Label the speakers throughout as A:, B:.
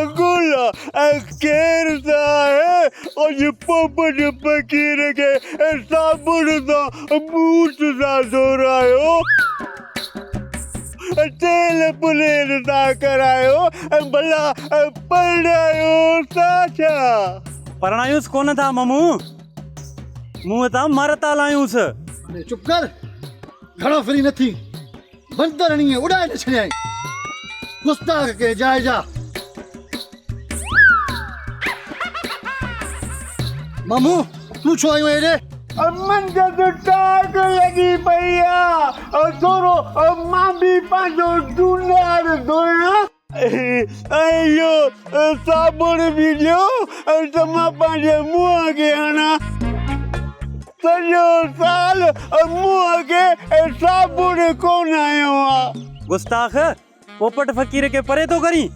A: اڪولا ۽ ڪير ته آهي اڄ پوپٽ فقير کي صابڻ سان بوٽ ٿا ڌورايو تيل پليل ٿا ڪرايو ڀلا پرڻايو ٿا ڇا؟ پرڻايوس
B: ڪونه ٿا ممون منهن تان مر ٿا لايونس. چپ ڪر
C: گهڻو فري نه ٿي. بندر ائين اڏائي نه ڇڏيائين گستاخ ڪنهن جاء جا مامو تون ڇو آيو هيڏي امن کي
A: ته ٽاڪ لڳي پئي آ ٿورو مان به پنهنجو ڊونار ڌويان اهو صابڻ به ڏيو ته مان پنهنجي منهن کي هڻان. سڄو سال منهن کي صابڻ ڪونه هنيو آ. گستاخ!
B: پوپٽ فقير کي پري ٿو ڪرين.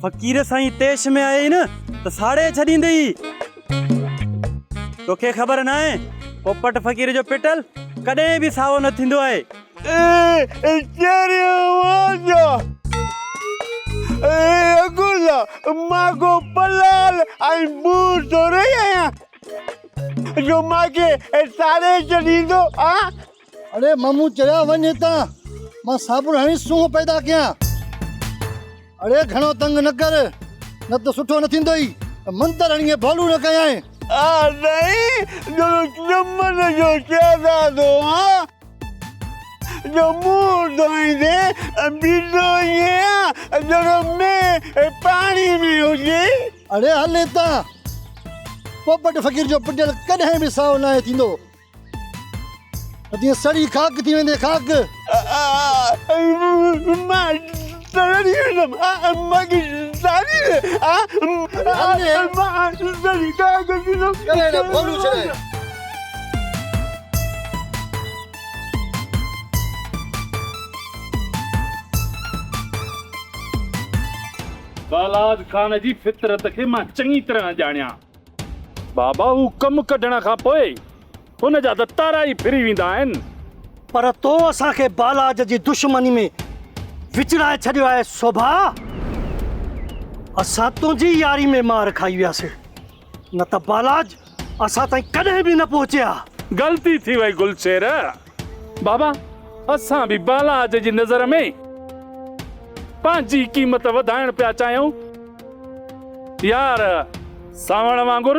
B: فقير سائين طيش ۾ آيئي نه ته ساڙي ڇڏيندئي. توکي خبر ناهي پوپٽ فقير جو پٽل ڪڏهن به سائو نه ٿيندو آهي. اي چيري واجا
A: اي اگولا مان ڪو پلال ۽ بور ٿوري آهيان جو مان کي ساڙي ڇڏيندو آ اڙي
C: مامو چريا وڃ هتان مان صابڻ هڻي سونهن پيدا ڪيان اڙي گهڻو تنگ نه ڪر نه ته سٺو نه ٿيندو ئي منتر هڻي ڀولو نه ڪيائين آ سائين
A: جو چمن جو شهزادو آ ڄمون ڌوئيندي بيٺو آهيان ڄڻ مينهن پاڻي ۾ هجي. اڙي هل
C: هتان. پوپٽ فقير جو پٽيل ڪڏهن به سائو ناهي ٿيندو. اتي سڙي خاڪ ٿي ويندين خاڪ.
A: مان
D: بلاد خان جي فطرت کي مان چڱي طرح ڄاڻيان. بابا هو ڪم ڪڍڻ کان پوء هن جا دتارا ئي ڦري ويندا آهن. پر تو
E: اسان کي بالاج جي دشمني ۾ وچڙائي ڇڏيو آهي سوڀا. اسان تنهنجي ياري ۾ مار کائي وياسين، نه ته بالاج اسان تائين ڪڏهن به نه پهچي ها. غلطي ٿي وئي
D: گلشير. بابا اسان به بالاج جي نظر ۾ پنهنجي قيمت وڌائڻ پيا چاهيون. يار سانوڻ وانگر.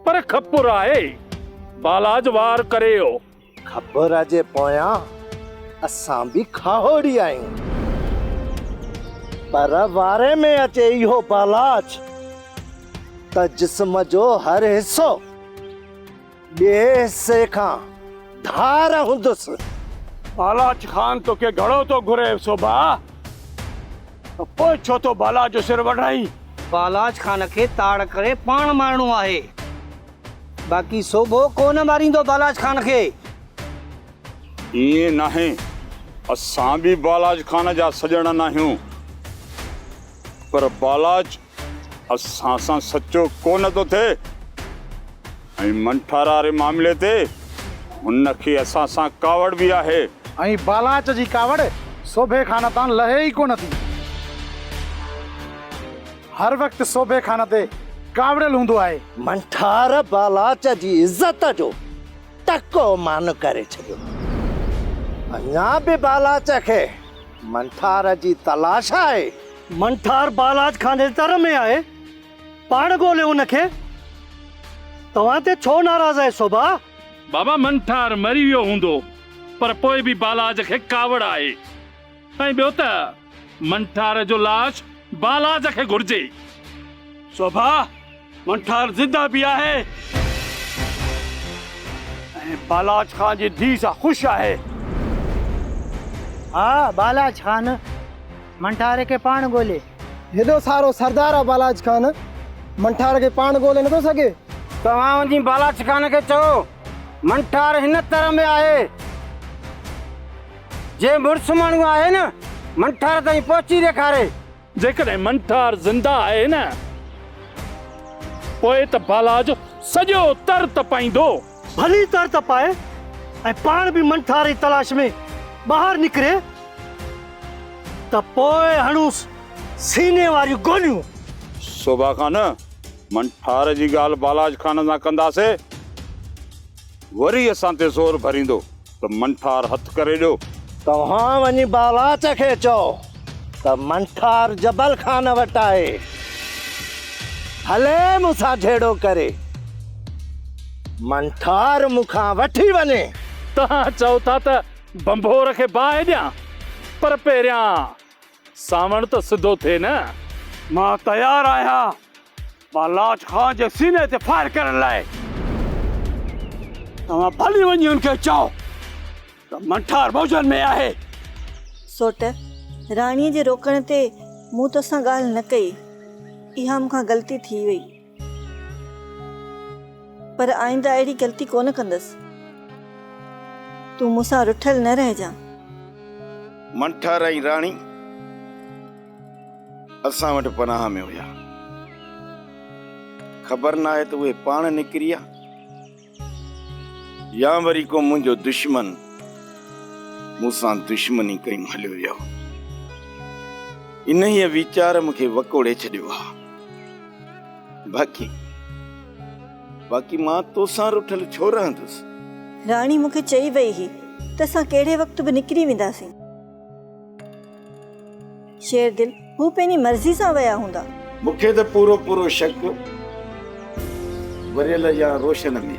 D: پر کپر آهي بالاج وار ڪري او. کپر جي
F: پويان اسان به کاهوڙي آهيون. پر واري ۾ اچي اهو بالاج ته جسم جو هر حصو ٻئي حصي کان ڌار هوندس. بالاج
D: خان توکي گهڙو ٿو گهري سوڀا. پوء ڇو ٿو بالاچ جو سر وڍائين؟ بالاچ خان
G: کي تاڙ ڪري پاڻ مارڻو آهي. باقي سوڀو ڪو نه ماريندو بالاچ خان کي.
H: ائين ناهي. اسان به بالاچ خان جا سڄڻ ناهيون. پر بالاچ اسان سان سچو ڪو نه ٿو ٿئي ۽ منٺارا واري معاملي تي هن کي اسان سان ڪاوڙ به آهي. ۽ بالاچ
C: جي ڪاوڙ سوڀي خان تان لهي ئي ڪو نه ٿي. هر وقت سوڀي خان تي ڪاوڙيل هوندو آهي. منٺار
F: بالاچ جي عزت جو ٽڪو مان ڪري ڇڏيو. اڃا به بالاچ کي منٺار جي تلاش آهي. منٺار
E: بالاچ خاني تر ۾ آهي، پاڻ ڳوليو ان کي. توهان تي ڇو ناراض آهي سوڀا؟ بابا
D: منٺار مري ويو هوندو پر پوء به بالاچ کي ڪاوڙ آهي ۽ ٻيو ته منٺار جو لاش بالاچ کي گهرجي. سوڀا!
B: منٺار زنده به آهي ۽ بالاچ خان جي ڌيء سان خوش آهي.
G: ها بالاچ خان منٺار کي پاڻ ڳولي. هيڏو سارو
C: سردار آ بالاچ خان منٺار کي پاڻ ڳولي نٿو سگهي. توهان وڃي
G: بالاچ خان کي چئو منٺار هن تر ۾ آهي. جي مڙس ماڻهو آهي نه منٺار تائين پهچي ڏيکاري.
D: جيڪڏهن منٺار زنده آهي نه پوء ته بالا جو سڄو تر تپائيندو. ڀلي تر
E: تپائي ۽ پاڻ به منٺار جي تلاش ۾ ٻاهر نڪري ته پوء هڻونس سيني واريون گوليون. سوڀا
H: خان، منٺار جي ڳالهه بالاج خان سان ڪنداسين، وري اسان تي زور ڀريندو. ته منٺار هٿ ڪري ڏيو. توهان وڃي
F: بالاچ کي چئو ته منٺار جبل خان وٽ آهي، هلي مون سان جهيڙو ڪري. منٺار مون کان وٺي وڃي. توهان چئو
D: ٿا ته ڀنڀور کي باهه ڏيان، پر پهريان سانوڻ ته سڌو ٿئي نه. مان
B: تيار آهيان. مان لاچ خان جي سيني تي فائر ڪرڻ لاء. توهان ڀلي وڃي ان کي چئو ته منٺار موجن ۾ آهي. سوٽ،
I: راڻيء جي روڪڻ تي مون توسان ڳالهه نه ڪئي. اها مون کان غلطي ٿي وئي. پر آئنده اهڙي غلطي ڪونه ڪندس. تون مون سان رٺل نه رهجان.
J: منٺار ۽ راڻي اسان وٽ پناهه ۾ هيا. خبر ناهي ته اهي پاڻ نڪري يا. يا وري ڪو منهنجو دشمن مون سان دشمني ڪيون هليو ويو. انهيء ويچار مون کي وڪوڙي ڇڏيو آ. باقي باقي مان تو سان رٺل ڇو رهندس؟ راڻي مون کي چئي
I: ويئي هئي ته اسان ڪهڙي وقت به نڪري وينداسين. شيردل، هو پنهنجي مرضي سان ويا هوندا. مون کي ته پورو
J: پورو شڪ وريل يا روشن ۾.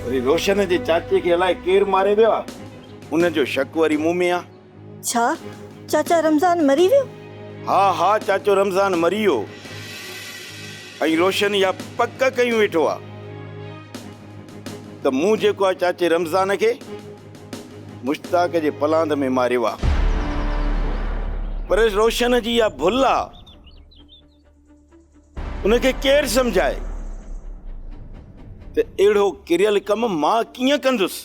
J: وري روشن جي چاچي کي الائي ڪير ماري ويو آ. ان جو شڪ وري مون ۾ آ. ڇا
I: چاچا رمضان مري ويو؟ ها ها
J: چاچو رمضان مري ويو ۽ روشن اها پڪ ڪيون ويٺو آ ته مون جيڪو آ چاچي رمضان کي. مشتاق جي پلاند ۾ ماريو آ. پر روشن جي اها ڀل آ. ان کي ڪير سمجهائي ته اهڙو ڪريل ڪم مان ڪيئن ڪندس.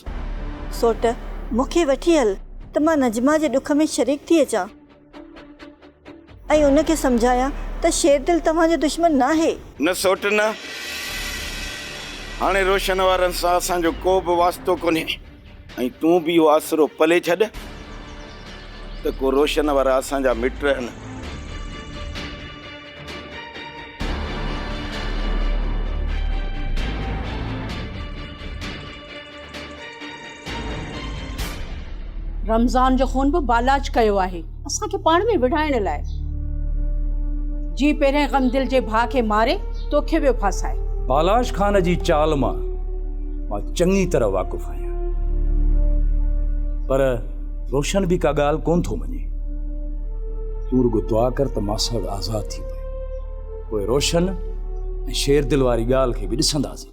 J: سوٽ،
I: مون کي وٺي هل ته مان نجمه جي ڏک ۾ شريڪ ٿي اچان. ۽ ان کي سمجهايان ته شير دل توهان جو دشمن ناهي. نه سوٽ نه.
J: هاڻي روشن وارن سان اسان جو ڪو به واسطو ڪونهي ۽ تون به اهو آسرو پلي ڇڏ ته ڪو روشن وارا اسان جا مٽ رهن.
K: رمضان جو خون به بالاچ ڪيو آهي اسان کي پاڻ ۾ وڙهائڻ لاء. جي پهرين غم دل جي ڀاء کي ماري توکي ٻيو ڦاسائي. بالاچ خان جي
L: چال مان مان چڱي طرح واقف آهيان پر روشن به ڪا ڳالهه ڪونه ٿو مڃي. تون رڳو دعا ڪر ته ماساڙ آزاد ٿي پئي پوء روشن ۽ شير دل واري ڳالهه کي به ڏسنداسين.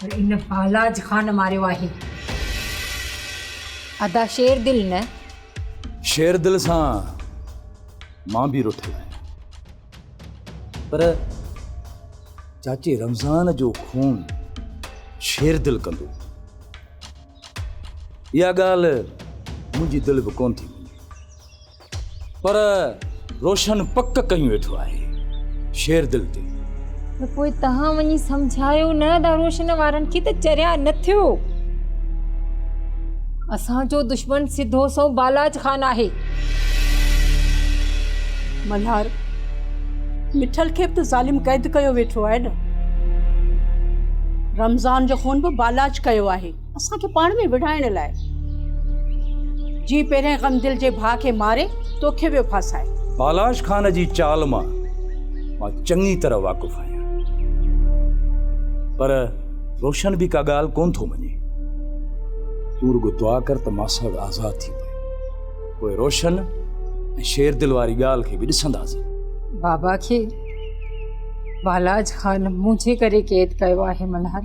M: پر ان پالاج خان ماريو آهي. ادا شير دل نه. شير
L: دل سان مان به رٺل آهيان پر چاچي رمضان جو خون شير دل ڪندو اها ڳالهه منهنجي دل به ڪونه ٿي مڃي. پر روشن پڪ ڪيون ويٺو آهي شيردل تي. ته پوء
M: تهان وڃي سمجهايو نه ادا روشن وارن کي ته چريا نه ٿيو. اسان جو دشمن سڌو سنئون بالاچ خان آهي.
K: ملهار مٺل کي به ته ظالم قيد ڪيو ويٺو آهي نه. رمضان جو خون به بالاچ ڪيو آهي. اسان کي پاڻ ۾ وڙهائڻ لاء. جيئن پهريائين غمدل جي ڀاء کي ماري توکي ويو ڦاسائي. بالاش خان جي
L: چال مان مان چڱي طرح واقف آهيان پر روشن به ڪا ڳالهه ڪونه ٿو مڃي. تون رڳو دعا ڪر ته ماساڻ آزاد ٿي پئي پوء روشن ۽ شيردل واري ڳالهه کي
M: به
L: ڏسنداسين. بابا کي بالاش
M: خان منهنجي ڪري قيد ڪيو آهي ملهار.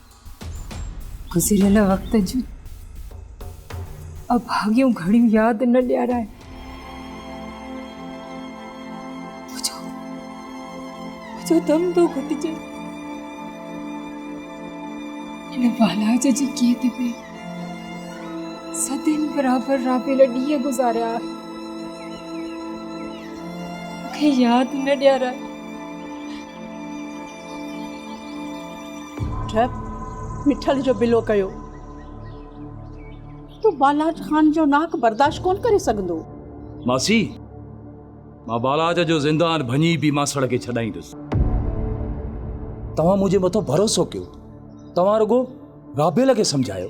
M: گذريل وقت جون اڀاڳيون گهڙيون ياد نه ڏيارائي. جو دم تو گھٽجي ان بالاج جي قيد ۾ صدين برابر رابيل ڏينهن گذاريا مونکي ياد نه ڏيارائي
K: ٺپ مٺل جو بلو ڪيو. تون بالاچ خان جو ناڪ برداشت ڪونه ڪري سگهندو. ماسي،
L: مان بالاچ جو زندان ڀڃي به ماسڙ کي ڇڏائيندس. توهان منهنجي مٿو ڀروسو ڪيو. توهان رڳو رابيل کي سمجهايو.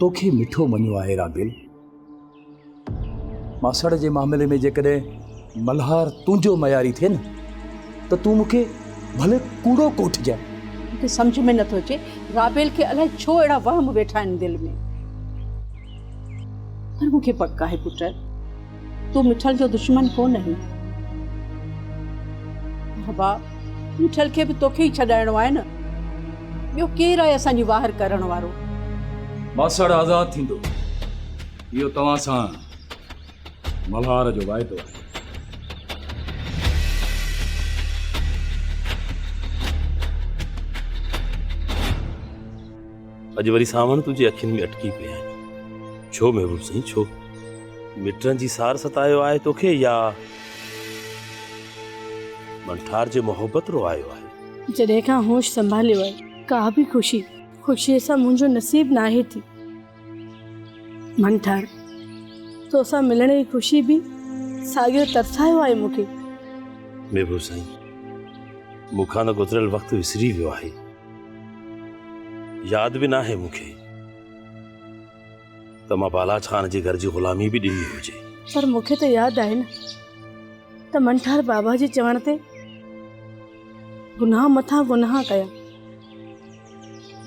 L: توکي مٺو مڃيو آهي رابيل. ماسڙ جي معاملي ۾ جيڪڏهن ملهار تنهنجو معياري ٿئي نه ته تون مون کي ڀلي ڪوڙو ڪوٺجانء. مون کي سمجهه ۾
K: نٿو اچي رابيل کي الائي ڇو اهڙا وهم ويٺا آهن دل ۾. پر مون کي پڪ آهي پٽ. تون مٺل جو دشمن ڪونه آهين. بابا، مٺل کي به توکي ئي ڇڏائڻو آهي نه. ٻيو ڪير آهي اسان جي واهر ڪرڻ وارو؟ ماسڙ
L: آزاد ٿيندو، اهو توهان سان ملهار جو واعدو آهي.
N: اڄ وري سانوڻ تنهنجي اکين ۾ اٽڪي پئي آهي ڇو محبوب سائين ڇو مٽن جي سار ستايو آهي توکي يا منٺار جي محبت رو آيو آهي جڏهن کان هوش
O: سنڀاليو آهي ڪا به خوشي خوشي سان منهنجو نصيب ناهي ٿي منٺار توسان ملڻ جي خوشي به ساڳيو ترسايو آهي مونکي محبوب
N: سائين مونکان گذريل وقت وسري ويو آهي ياد به ناهي مون کي ته مان بالاچ خان جي گهر جي غلامي به ڏني هجي. پر مون کي ته ياد
O: آهي نه ته منٺار بابا جي چوڻ تي گناهه مٿان گناهه ڪيا.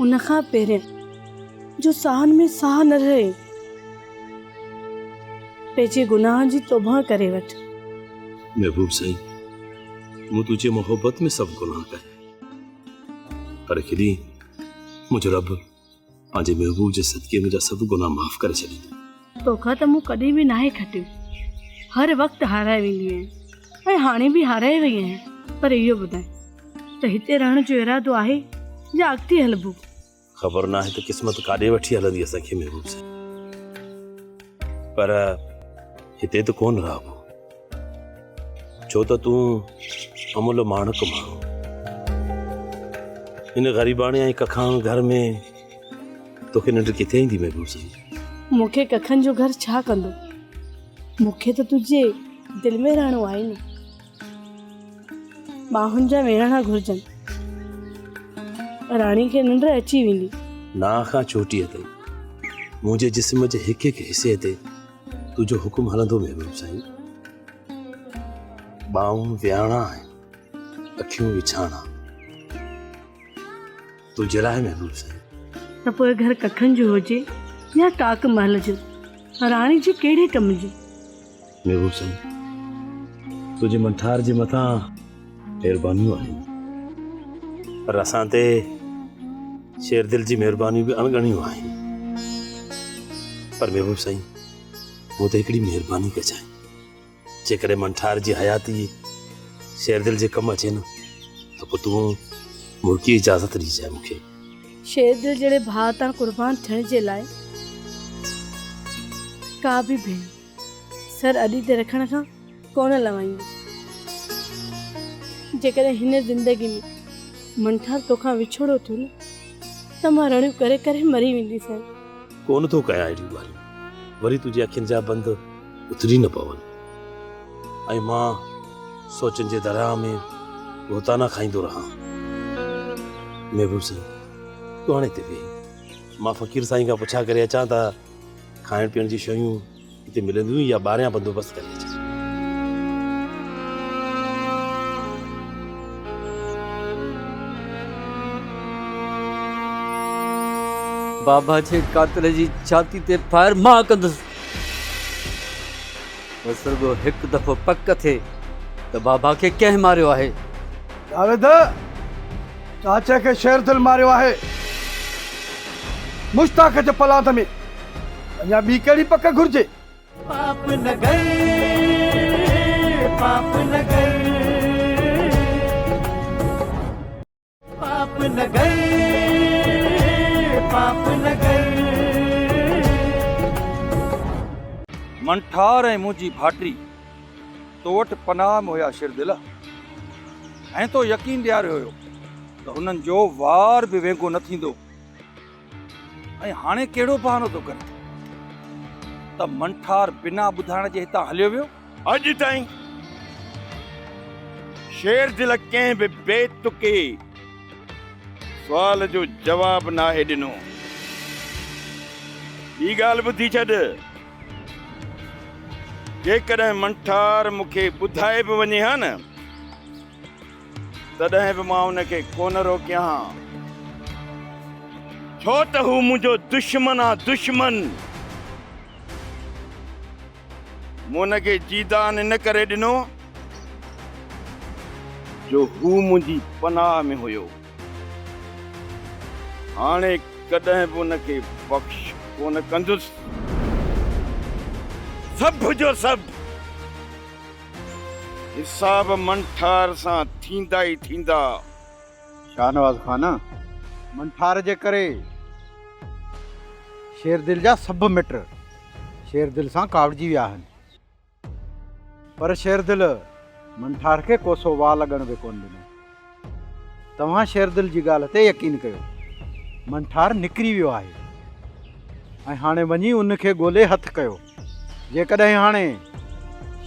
O: ان کان پهرين جو ساهن ۾ ساهه نه رهي، پنهنجي گناهن جي توبه ڪري وٺ. محبوب
N: سائين، مون تنهنجي محبت ۾ سڀ گناهه ڪيا. پر هڪ ڏينهن منهنجو رب پنهنجي محبوب جي صدقي منهنجا سڀ گناهه معاف ڪري ڇڏيندو توکان ته مون ڪڏهن
O: به ناهي کٽيو هر وقت هارائي ويندي آهيان ۽ هاڻي به هارائي وئي آهيان پر اهو ٻڌاء ته هتي رهڻ جو ارادو آهي يا اڳتي هلبو خبر ناهي
N: ته قسمت ڪاڏي وٺي هلندي اسان کي محبوب سان پر هتي ته ڪون رهبو ڇو ته تون امول ماڻڪ ماڻهو ان غريباڻي ۽ ڪکاڻ گهر ۾ توکي ننڊ ڪٿي ايندي محبوب سان مونکي ڪکن
O: جو گهر ڇا ڪندو مونکي ته تنهنجي دل ۾ رهڻو آهي نه ٻانهن جا ويهڻا گهرجن. راڻي کي ننڊ اچي ويندي. ناهه کان چوٽيء
N: تائين. منهنجي جسم جي هڪ هڪ حصي تي تنهنجو حڪم هلندو محبوب سائين. ٻانهون ويهڻا آهن، اکيون وڇاڻا. تنهنجي لاء محبوب سائين. ته پوء گهر
O: ڪکن جو هجي يا ڪاڪ محل جو راڻي جي ڪهڙي ڪم جو. محبوب
N: سائين تنهنجي منٺار جي مٿان مهربانيون آهن پر اسان تي شير دل جي مهربانيون به اڻڳڻيون آهن پر محبوب سائين مون تي هڪڙي مهرباني ڪجانء جيڪڏهن من ٺار جي حياتي شير دل جي ڪم اچي نه ته پوء تون ملڪي
O: اجازت
N: ڏجانء
O: مون کي.
N: شير
O: دل جهڙي ڀاء تان
N: قربان
O: ٿيڻ جي لاء ڪا به ڀيڻ سر اڏي تي رکڻ کان ڪونه لنوائيندي. جيڪڏهن هن زندگي ۾ من ٺار توکان وڇوڙو ٿيو نه ته مان رڙيون ڪري ڪري مري وينديسين. ڪونه ٿو ڪيان
N: اهڙيون ڳالهيون وري تنهنجي اکين جا بند. اتري نه پون ۽ مان سوچن جي درياهه ۾ غوطانا کائيندو رهان. محبوب سائين تون هاڻي هتي ويهه مان فقير سائين کان پڇا ڪري اچان ته کائڻ پيئڻ جون شيون هتي ملنديون يا ٻاهريان بندوبست ڪري اچجي. بابا
P: جي قاتل جي ڇاتي تي فائر مان ڪندس. بس رڳو هڪ دفعو پڪ ٿئي ته بابا کي ڪنهن ماريو آهي؟ جاويد،
E: چاچي کي شير دل ماريو آهي. مشتاق جي پلاند ۾ اڃا ٻي ڪهڙي پڪ گهرجي؟ پاپ
Q: نگر پاپ نگر. پاپ نگر پاپ نگر.
L: من ٺار ۽ منهنجي ڀاٽي تو وٽ پناهه م هيا شير دل ۽ تو يقين ڏياريو هيو ته هنن جو وار به وينگو نه ٿيندو. ۽ هاڻي ڪهڙو بهانو ٿو ڪرين ته منٺار بنا ٻڌائڻ جي هتان هليو ويو؟ اڄ تائين
J: شيرزل ڪنهن به بي تڪي سوال جو جواب ناهي ڏنو. ٻي ڳالهه ٻڌي ڇڏ، جيڪڏهن منٺار مون کي ٻڌائي به وڃي ها نه، تڏهن به مان ان کي ڪونه روڪيان ها، ڇو ته هو منهنجو دشمن آ، دشمن! مون ان کي جيدان ان ڪري ڏنو، جو هو منهنجي پناهه ۾ هيو. هاڻي ڪڏهن به ان کي بخش ڪونه ڪندس. سڀ جو سڀ! حساب منٺار سان ٿيندا ئي ٿيندا.
E: شاهنواز خان منٺار جي ڪري شيردل جا سڀ مٽ شيردل سان ڪاوڙجي ويا آهن. پر شيردل منٺار کي ڪوسو وال اڳڻ به ڪونه ڏنو. توهان شيردل جي ڳالهه تي يقين ڪيو. منٺار نڪري ويو آهي ۽ هاڻي وڃي ان کي ڳولي هٿ ڪيو. جيڪڏهن هاڻي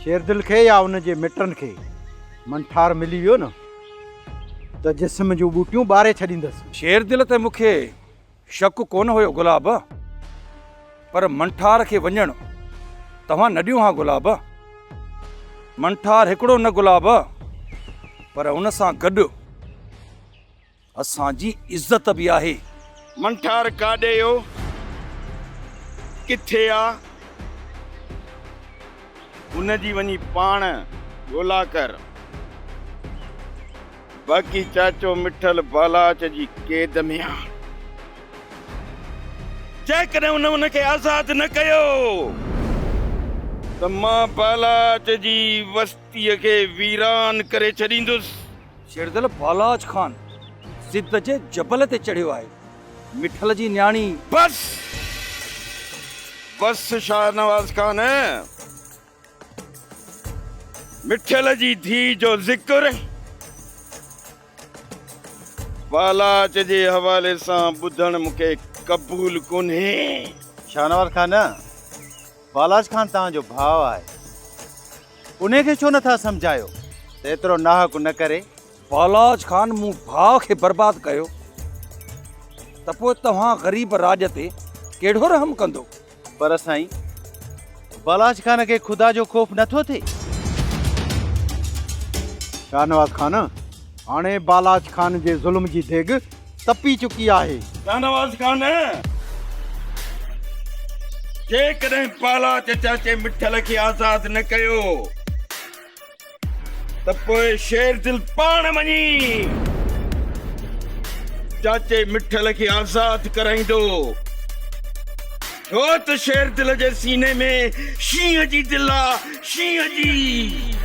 E: شيردل کي يا ان جي مٽن کي منٺار ملي ويو نه ته جسم جون ٻوٽيون ٻاري ڇڏيندس. شيردل ته مون کي
L: شڪ ڪونه هيو گلاب، پر منٺار کي وڃڻ توهان نه ڏيو ها گلاب. منٺار هڪڙو نه گلاب، پر ان سان گڏ اسان جي عزت به آهي. منٺار
J: ڪاڏي ويو، ڪٿي آ؟ ان جي وڃي پاڻ ڳولا ڪر. باقي چاچو مٺل بالاچ جي قيد ۾ آ. جيڪڏهن ان ان کي آزاد نه ڪيو. ته مان بالاچ جي وستيء کي ويران ڪري ڇڏيندس. شيردل
L: بالاچ خان سنڌ جي جبل تي چڙهيو آهي. مٺل جي نياڻي. بس
J: بس شاهنواز خان. مٺل جي ڌيء جو ذڪر بالاچ جي حوالي سان ٻڌڻ مون کي قبول ڪونهي. شاهنواز
R: خان، بالاچ خان توهان جو ڀاء آهي، انهي کي ڇو نه ٿا سمجهايو ته ايترو ناحق نه ڪري. بالاچ خان
L: مون ڀاء کي برباد ڪيو ته پوء توهان غريب راڄ تي ڪهڙو رحم ڪندو؟ پر سائين
R: بالاچ خان کي خدا جو خوف نه ٿو ٿئي؟
E: شاهنواز خان هاڻي بالاچ خان جي ظلم جي ديڳ تپي چڪي آهي. شاهنواز خان
J: جيڪڏهن بالاچ چاچي مٺل کي آزاد نه ڪيو. ته پوء شير دل پاڻ وڃي چاچي مٺل کي آزاد ڪرائيندو ڇو ته شير دل جي سيني ۾ شينهن جي دل آ شينهن جي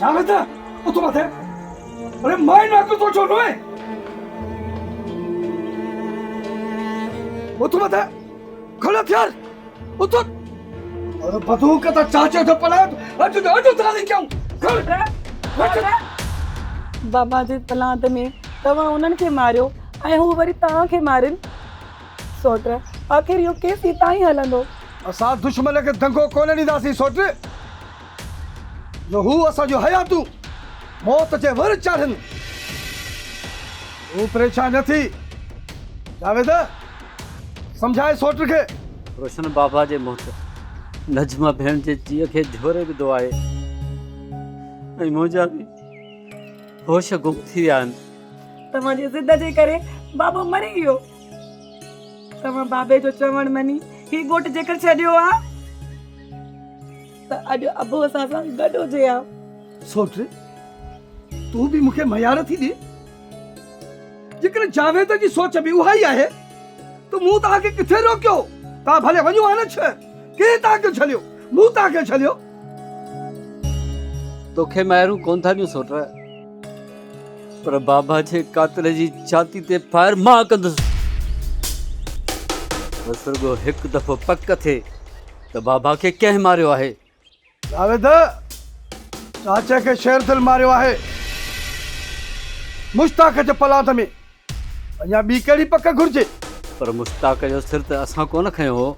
S: جاويد اٿ مٿي اري مائن نا ڪو سوچو نوئي اٿ مٿي کل ٿيار اٿ اري بدو ڪتا چاچو جو پلا اج جو اج ترا لکيو کل
T: بابا جي پلانت ۾ تما انن کي ماريو ۽ هو وري تان کي مارين سوٽ، آخر اهو ڪيستي تائين هلندو؟ اسان دشمن
S: کي دنگو ڪونه ڏينداسين سوٽ، جو هو اسان جون حياتون موت جي ور چاڙهن. تون پريشان نه ٿي جاويد، سمجهاء سوٽ کي. روشن بابا
P: جي موت نجمه ڀيڻ جي جيء کي جهوري وڌو آهي ۽ منهنجا به هوش گم ٿي ويا آهن. توهان جي ضد جي
T: ڪري بابو مري ويو. توهان بابي جو چوڻ مڃي هي ڳوٺ جيڪر ڇڏيو ها ته اڄ ابو اسان سان گڏ هجي ها سوٽ
S: تون به مونکي ميار ٿي ڏي جيڪر جاويد جي سوچ به اها ئي آهي ته مون توهان کي ڪٿي روڪيو توهان ڀلي وڃو ها نه ڇهر ڪنهن توهان کي جھليو مون توهان کي جھليو
P: توکي ميارون ڪون ٿا ڏيون سوٽ پر بابا جي قاتل جي ڇاتي تي فائر مان ڪندس. بس رڳو هڪ دفعو پڪ ٿئي ته بابا کي ڪنهن ماريو آهي. جاويد،
S: چاچي کي شير دل ماريو آهي. مشتاق جي پلاند ۾ اڃا ٻي ڪهڙي پڪ گهرجي. پر مشتاق
P: جو سر ته اسان ڪونه کنيو هو.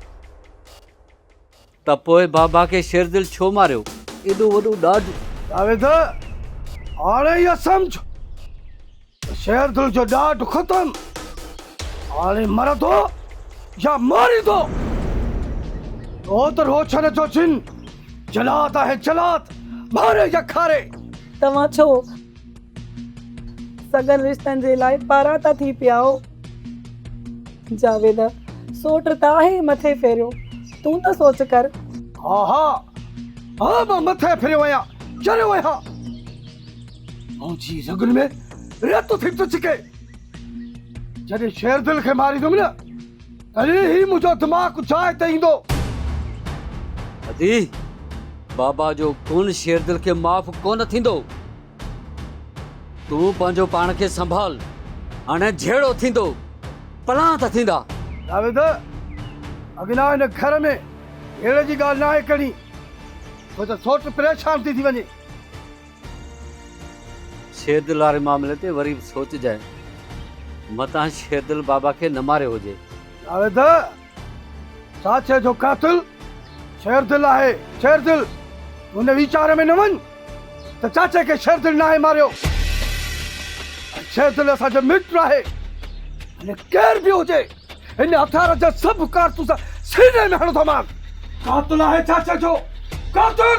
P: ته پوء بابا کي شيردل ڇو ماريو؟ ايڏو وڏو ڏاڍ! جاويد،
S: هاڻي اها سمجهه ته شيردل جو ڏاڍ ختم. هاڻي مرندو يا ماريندو. ڇو ته روشن جو جن جلاد آهي، جلاد ماري يا کاري. توهان ڇو؟
T: سڳن رشتن جي لاء پاراتا ٿي پيائو جاويد سوٽ ته آهي مٿي ڦيريو تون ته سوچ ڪر ها ها
S: ها مان مٿي ڦريو آهيان چريو آهيان منهنجي رڳن ۾ رت ٿي ٿو ڇڪي جڏهن شير دل کي ماريندم نه تڏهن هي منهنجو دماغ جاء تي ايندو
P: ادي بابا جو ڪون شير دل کي معاف ڪونه ٿيندو تون پنهنجو پاڻ کي سنڀال هاڻي جهيڙو ٿيندو پلان ته ٿيندا. جاويد
S: اگنا هن گهر ۾ جهيڙي جي ڳالهه ناهي ڪرڻي ڇو ته سوٽ پريشان ٿي ٿي وڃي.
P: شيردل واري معاملي تي وري به سوچجانء متان شيردل بابا کي نه ماريو هجي. جاويد
S: ساٿيء جو قاتل شيردل آهي، شيردل! ان ويچار ۾ نه وڃ ته چاچي کي شيردل ناهي ماريو ۽ شيردل اسان جو مٽ ناهي. هن ڪير به هجي، هن هٿيار جا سڀ ڪارتوس سيني ۾ هڻندومانس. قاتل آهي چاچي جو، قاتل!